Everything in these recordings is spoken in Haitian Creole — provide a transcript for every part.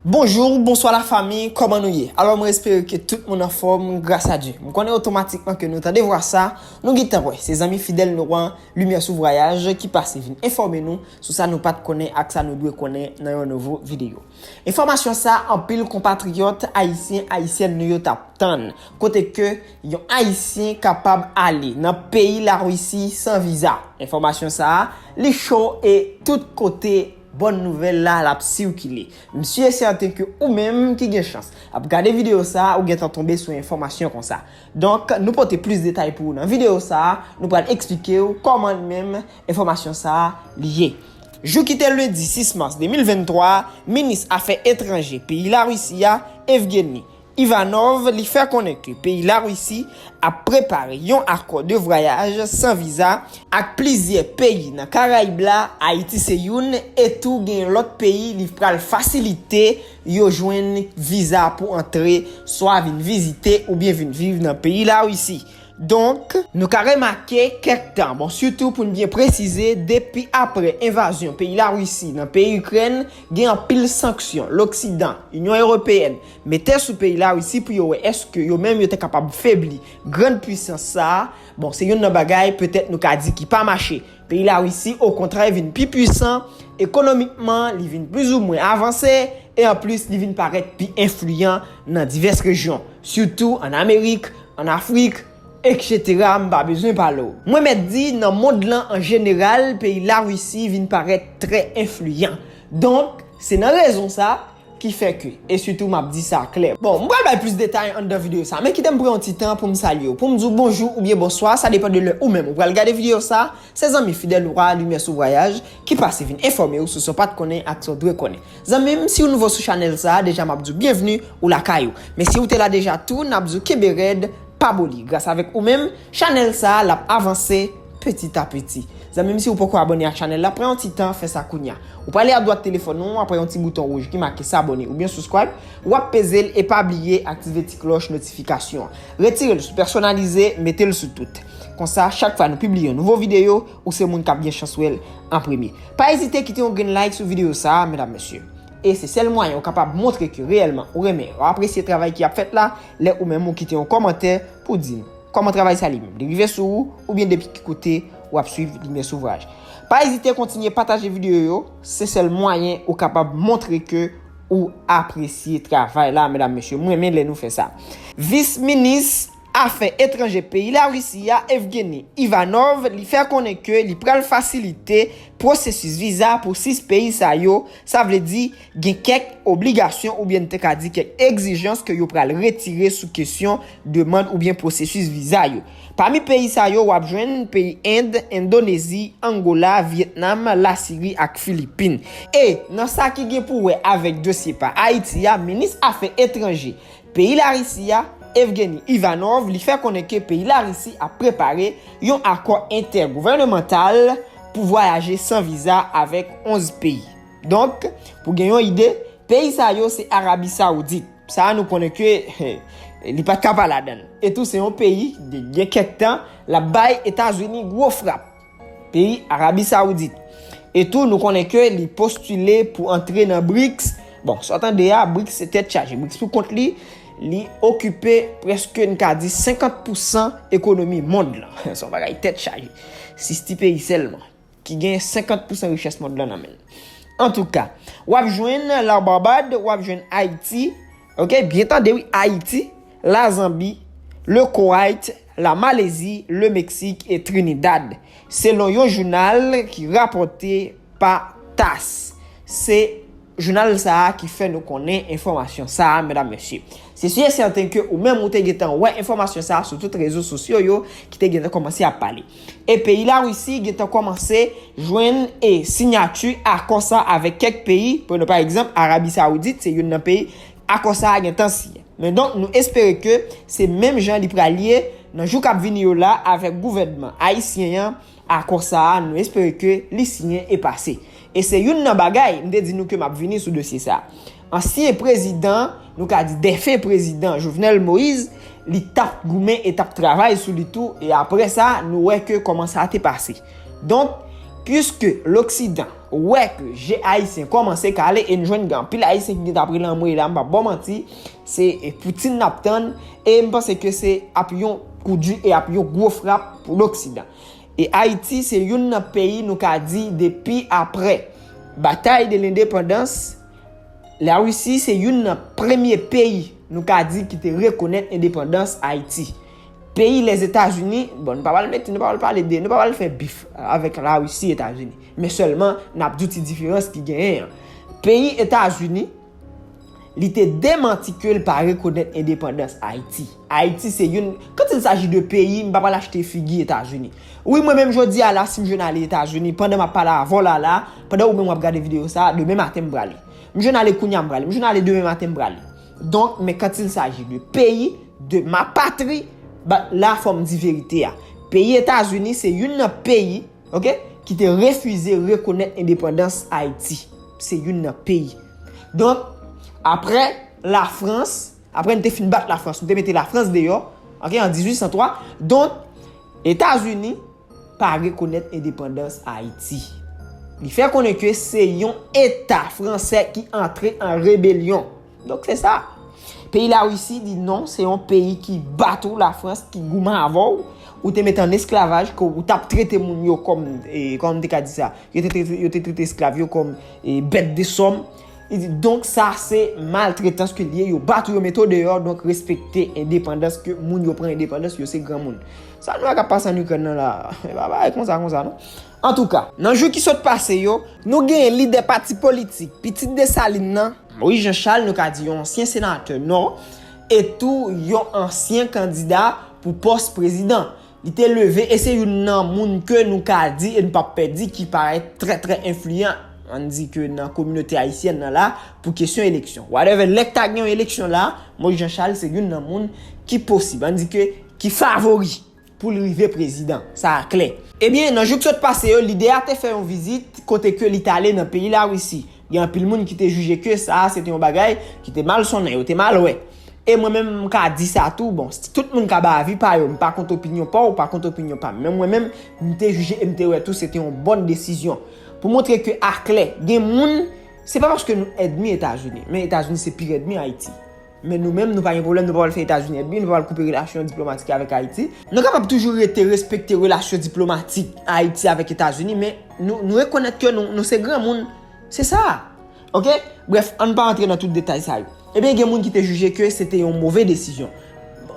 Bonjour, bonswa la famille, kòman nou ye? Alò mwen espere ke tout moun anfòm, gras a Dye. M konnen otomatikman ke nou tande vwa sa, nou gintan wè, se zanmi fidèl nou an, Lumière sous Voyage, ki pase vin enfòme nou sou sa nou pat konnen ak sa nou dwe konnen nan yon nouvo videyo. Enfòmasyon sa anpil konpatriyòt ayisyen, ayisyèn nou yo tap tann, kote ke yon ayisyen kapab ale nan peyi la Russie san viza. Enfòmasyon sa li cho e tout kote. Bòn nouvèl la lap sikile. M si e sèten ke ou menm ki gen chans ap gade videyo sa a ou gentan tonbe sou enfòmasyon konsa. Donk nou pote plis detay pou ou nan videyo sa a, nou pral eksplike ou kòman li menm enfòmasyon sa a li ye. Jou ki te lendi 6 mas 2023 a, minis afè etranje peyi Larisi a, Evgeny. Ivanov li fè konnen ke peyi Larisi ap prepare yon akò de vwayaj san viza, ak plizyè peyi nan Karayib la, Ayiti se youn, e tou genyen lòt peyi li pral fasilite yo jwenn viza pou antre, swa vin vizite oubyen vin viv nan peyi Larisi. Donk. Nou ka remake kèk tan, bon sitou pou n byen presize depi apre envazyon peyi Larisi nan peyi Ikrèn, gen anpil sanksyon loksidan, Inyon Ewopeyèn, Mete sou peyi Larisi pou yo wè èske yo menm yo te kapab febli grand pwisans sa a, bon se youn nan bagay petèt nou ka di ki pa mache. Peyi Larisi okontrè vin pi pwisan ekonomikman, li vin plizoumwen avanse e anplis li vin parèt pi enfliyan nan divès rejyon, sitou ann Amerik, ann Afrik, eksetera, m pa bezwen pale w. Mwen mèt di nan mond lan an jeneral peyi Larisi vin parèt trè enfliyan. Donk, se nan rezon sa, Ki fè ke, e sitou m ap di sa klè. Bon, m pral bay plis detay anndan videyo sa, men kite m pran yon ti tan pou m salye w, pou m di w bonjou oubyen bonswa, sa depan de lè ou menm ou pral gade videyo sa, se zanmi fidèl ou a, Limyè sou Vwayaj, ki pase vin enfòme w sou sa w pa t konnen ak sa w dwe konnen. Zanmi m, si w nouvo sou chanèl sa, deja m ap di w byenvni, ou lakay ou. Men si ou te la deja tou, n ap di w kenbe rèd, pa boli. Gras avèk ou menm, chanèl sa, l ap avanse. Petit a petit. Zanmim si ou poko abone ak chanel la pran yon ti tan fè sa kounya. Ou prale adwat telefòn ou apre yon ti bouton wouj ki make s'abonner oubyen subscribe wap pezel e pa bliye aktive ti klòch notifikasyon an. Retirel sou pèsonalize metel sou tout. Konsa chak fwa nou pibliye yon nouvo videyo ou se moun kap gen chans wèl an premye. Pa ezite kite yon grenn like sou videyo sa medam mesye. E se sèl mwayen ou kapab montre ke reyèlman ou renmen e ou apresye travay ki ap fèt la lè ou menm ou kite yon kòmantè pou di nou. Kòman travay sa li menm? Li rive sou ou oubyen depi ki kote ou ap swiv Limyè Souvraj? Pa ezite kontinye pataje videyo yo, se sèl mwayen ou kapab montre ke ou apresye travay la medam mesye m renmen lè nou fè sa. Vis minis afè etranje peyi Larisi a Evgeny Ivanov li fè konnen ke li pral fasilite pwosesis viza pou 6 peyi sa yo, sa vle di. Gen kèk obligasyon oubyen n te ka di kèk egzijans ke yo pral retire sou kesyon demand oubyen pwosesis viza yo. Pami peyi sa yo wap jwenn peyi End, Endonezi, Angola, Vyetnam, Lasiri ak Filipin. E, nan sa ki gen pou wè avèk dosye pa Ayiti a, minis afè etranje peyi Larisi a, Evgeny Ivanov, li fè konnen ke peyi Larisi ap prepare yon akò entègouvènemantal pou vwayaje san viza avèk 11 peyi. Donk, pou gen yon ide, peyi sa yo se Arabi Saoudit. Sa a nou konnen ke li pa t ka pa ladan l. E tou se yon peyi ki gen kèk tan l ap bay Etazini gwo frap. Peyi Arabi Saoudit. E tou nou konnen ke li postile pou antre nan BRICS. Bon, sa w tande a, BRICS se tèt chaje. BRICS pou kont li, li okipe prèske n ka di 50 pousan ekonomi mond lan. Son bagay tèt chaje. Sis ti peyi sèlman. ki gen 50 pousan richès mond lan nan men l. Antouka, w ap jwenn la Barbad, w ap jwenn Ayiti, ok, byen tande wi, Ayiti, la Zanbi, le Kowayt, la Malezi, le Meksik e Trinidad, selon yon jounal ki rapòte pa tass. Se. Jounal sa a ki fè nou konnen enfòmasyon sa a, medam mesye. Se si e sèten ke ou menm ou te gentan wè enfòmasyon sa a sou tout rezo sosyo yo ki te gentan kòmanse ap pale. E peyi Larisi gentan kòmanse jwenn e sinyati akò sa a avèk kèk peyi, prenn pa egzanp Arabi Saoudit se youn nan peyi akò sa a gentan siyen. Men donk nou espere ke se menm jan li pral ye nan jou k ap vini yo la avèk gouvènman ayisyen an, Akò sa a, nou espere ke li siyen e pase. E se youn nan bagay, m te di nou ke m ap vini sou dosye sa a. Ansyen prezidan, nou ka di defen prezidan Jovenel Moise, li t ap goumen e t ap travay sou li tou e apre sa nou wè ke kòman sa te pase. Donk, puiske loksidan wè ke je Ayisyen kòmanse kale e n jwenn gen anpil Ayisyen ki gen t ap rele anmweyy la m p ap ba w manti, Se Poutine n ap tann e m panse ke se ap yon kou di e ap yon gwo frap pou loksidan. E Ayiti se youn nan peyi nou ka di depi apre batay de lendepandans, Larisi se youn nan premye peyi nou ka di ki te rekonèt endepandans Ayiti. Peyi Lèzetazini, bon nou pa pral mete, nou pa pral pale de, nou pa pral fè bif avèk Larisi Etazini. Men sèlman n ap di w ti diferans ki genyen an. Peyi Etazini. Li te demanti ke l pa rekonèt endepandans Ayiti. Ayiti se youn, quand il s'agit de peyi, m pa pral achte figi Etazini. Wi mwen menm jodi a la si m jwenn ale Etazini, pandan m ap pale avè w la la, pandan ou menm w ap gade videyo sa, demen maten m prale. M jwenn ale kounye a m prale, m jwenn ale demen maten m prale. Donk, men quand il s'agit de peyi, de ma patrie, ba la fò m di verite a. Peyi Etazini se youn nan peyi. Ok, ki te refize rekonèt endepandans Ayiti. Se youn nan peyi. Donk, apre Lafrans, apre n te fin bat Lafrans, nou te mete Lafrans deyò, ok, an 1803, donk, Etazini pa rekonèt endepandans Ayiti. Li fè konnen ke se yon Eta fransè ki antre an rebelyon. Donk se sa. Peyi la Russie di non se yon peyi ki bat ou la France ki gouman avè w. Ou te mete an esklavaj ke ou tap trete moun yo kòm e kòman m te ka di sa. Yo te trete yo te trete esklav yo kòm e bèt de sòm. Li di donk sa se maltretans ke li ye. Yo bat ou yo mete w deyò donk respekte endepandans ke moun yo pran endepandans yo se granmoun. Sa nou wè kap pase an Ukraine nan la. E pa bagay konsa konsa non. Antouka. Nan jou ki sot pase yo. Nou genyen lidè pati politik Pitit Desalin nan. Moyiz Jan Chal nou ka di yon ansyen senatè Nò e tou yon ansyen kandida pou pòs prezidan. Li te leve e se youn nan moun ke nou ka di e nou pap pè di ki parèt trè trè enfliyan ann di ke nan kominote ayisyèn nan la pou kesyon eleksyon. Whatever, lè ta gen yon eleksyon la, Moyiz Jan Chal se youn nan moun ki posib, ann di ke ki favori. pou l rive prezidan. Sa a klè. Ebyen, nan jou k sot pase yo, lidè a te fè yon vizit kote ke li t ale nan peyi Larisi. Gen anpil moun ki te jije ke sa a se te yon bagay ki te mal sonnen, yo te mal wè. E mwen menm, m ka di sa tou, bon, tout moun ka bay avi pa yo, m pa kont opinyon pa w, ou pa kont opinyon pa m. Men mwen menm, m te jije e m te wè tou se te yon bon desizyon. Pou montre ke aklè, gen moun, se pa paske nou èdmi Etazini, men Etazini se pi rèdmi Ayiti. Men nou menm nou pa gen pwoblèm, nou pa pral fè Etazini èdmi, nou pa pral koupe relasyon diplomatik avèk Ayiti. Nou kapab toujou rete respekte relasyon diplomatik Ayiti avèk Etazini men nou rekonèt ke nou se granmoun. Se sa. Ok. Brèf, ann pa antre nan tout detay sa yo. Ebyen gen moun ki te jije ke se te yon move desizyon.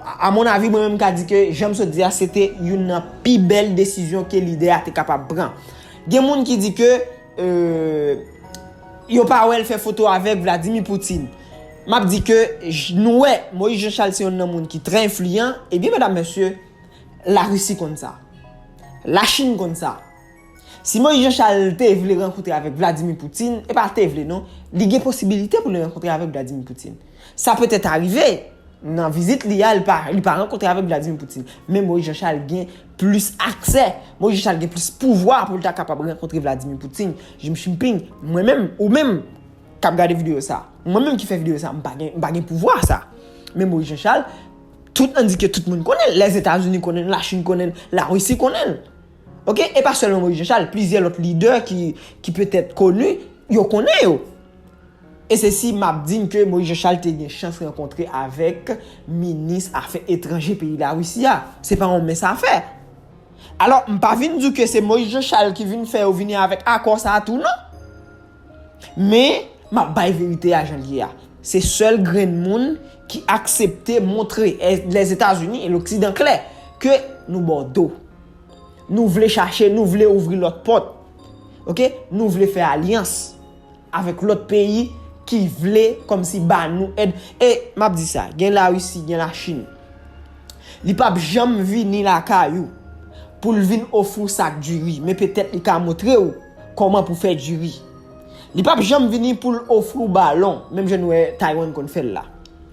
A mon avi mwen menm m ka di ke jan m sot di a se te youn nan pi bèl desizyon ke lidè a te kapab pran. Gen moun ki di ke. Euh yo pa wèl fè foto avèk Vladimir Poutine. Map di ke nou wè Moïse Jean Charles se yonn nan moun ki trè enfliyan, ebyen medam mesye la Russie konn sa. La Chine konn sa. Si Moïse Jean Charles te vle rankontre avèk Vladimir Poutine, e pa te vle non, li gen posibilite pou li rankontre avèk Vladimir Poutine. Sa petèt arive nan vizit li a li pa rankontre avèk Vladimir Poutine, men Moïse Jean Charles gen plis aksè, mwen jis al gen plis pouvwa pou l ta kapab rankontre Vladimir Putin, Jim Shimping, mwen menm, ou menm k ap gade videyo sa, mwen menm ki fè videyo sa, m pa gen, m pa gen pouvwa sa. Men Moyiz Janchal, tout an di ke tout moun konnen l, Lèzetazini konnen l, Lachin konnen l, Larisi konnen l. Ok, e pa sèlman Moyiz Janchal, plizyè lòt lidè ki petèt koni, yo konnen yo. E se si m ap di n ke Moyiz Janchal te gen chans rankontre avèk minis afè etranje peyi Larisi a. Se pa yon mens afè. Alò, m pa vin di w ke se Moyiz Janchal ki vin fè yo vini avèk akò sa a tou non. Men, m ap bay verite a jan l ye a. Se sèl grenn moun ki aksepte montre Lèzetazini e loksidan klè ke nou ba w do. Nou vle chache, nou vle ouvri lòt pòt. Ok? Nou vle fè alyans. Avèk lòt peyi ki vle kòm si ba nou èd. E map di sa, gen la Russie, gen la Chine. Li pap janm vini lakay ou pou l vin ofri w sak diri, men petèt li ka montre w kòman pou fè diri. Li pap janm vini pou l ofri w balon, menm jan nou wè Taiwan konn fè l la.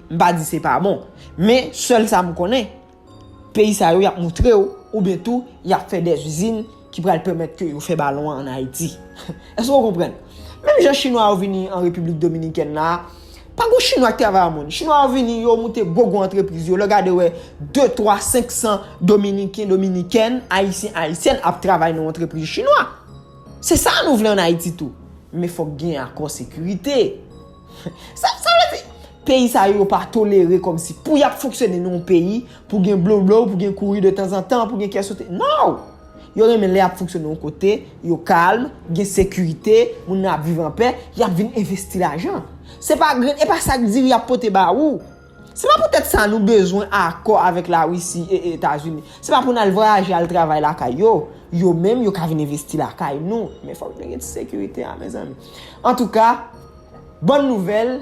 M pa di se pa bon, men sèl sa m konnen, Peyi sa yo yap moutrew oubyen tou yap fè des izin ki pral pèmèt ke yo fè balon an an Ayiti. Eske ou konprann? Menm jan chinwa yo vini an Repiblik Dominikèn la, pa gon chinwa ki travay an moun. Chinwa yo vini, yo moute gwo gwo antrepriz yo, lè w gade wè de, twa, senk san dominiken, dominikèn, ayisyen, ayisyèn ap travay nan antrepriz chinwa. Se sa nou vle an Ayiti tou. Men fòk gen akò sekirite. Sa vle di, peyi sa yo yo pa tolere kòm si pou y ap fonksyone nan yon peyi, pou gen blowblow, pou gen kouri de tanzantan, pou gen kè sote. Non! Yo renmen lè y ap fonksyone yon kote, yo kalm, gen sekirite, moun nan ap viv anpè, y ap vin envesti lajan. Se pa grenn, e pa sak diri y ap pote ba ou. Se pa pou tèt sa nou bezwen akò avèk la Russie e etazini. Se pa pou nal vwayaje al travay lakay yo. Yo menm yo ka vin envesti lakay nou. Men fòk nou gen ti sekirite a mezanmi. Antouka, bòn nouvèl,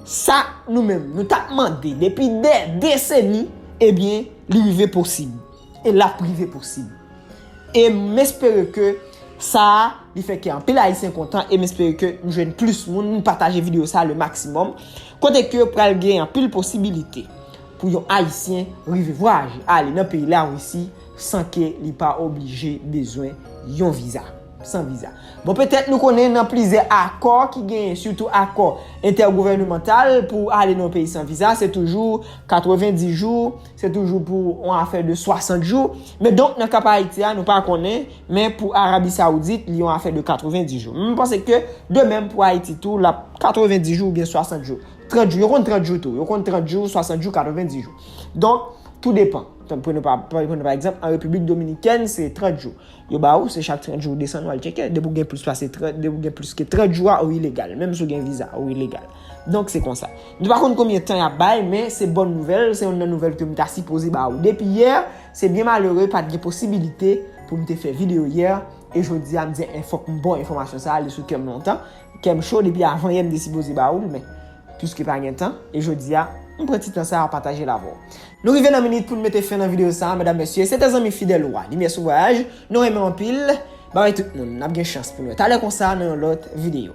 sa nou menm nou tap mande depi dè deseni, ebyen li rive posib. E l ap rive posib. E m espere ke sa a li fè kè anpil Ayisyen kontan e m espere ke m jwenn plis moun, m pataje videyo sa a le maksimòm, kote ke pral gen anpil posibilite pou yon Ayisyen rive vwayaje ale nan peyi Larisi san ke li pa oblije bezwen yon viza, san viza. Bon petèt nou konnen nan plizyè akò ki genyen, sitou akò entègouvènemantal pou ale nan yon peyi san viza, se toujou 90 jou, Se toujou pou yon afè de 60 jou. Men donk nan ka pa Ayiti a nou pa konnen, men pou Arabi Saoudit li yon afè de 90 jou. M panse ke de menm pou Ayiti tou l ap 90 jou oubyen 60 jou. 30 jou, yo konn 30 jou tou. Yo konn 30 jou, 60 jou, 90 jou. Donk, tou depan. Pran nou pa, pran nou pa egzanp, an Repiblik Dominikèn se 30 jou. Yo ba ou, se chak 30 jou ou desann ou al tcheke. Depi ou gen plis pase 30, depi ou gen plis ke 30 jou a ou ilegal. Menm si ou gen viza, ou ilegal. Donk se konsa. Nou pa konn konbyen tan yap bay men se bòn nouvèl, se yonn nan nouvèl ke m ta sipoze ba ou depi yè, se byen malere pat gen posibilite pou m te fè video yè, e jodi a m di en fòk m ba w enfòmasyon sa a li sou kè m lontan, kè m cho depi avan yè m te sipoze ba ou l men pwiske pa gen tan e jodi a m pran ti tan sa a pataje l avè w. Nou rive nan minit pou n mete fen nan video sa a medam mesye, se te zanmi fidèl ou a Limyè sou Vwayaj, nou renmen w anpil, babay tout moun, n ap gen chans pou n wè talè konsa nan yon lòt video.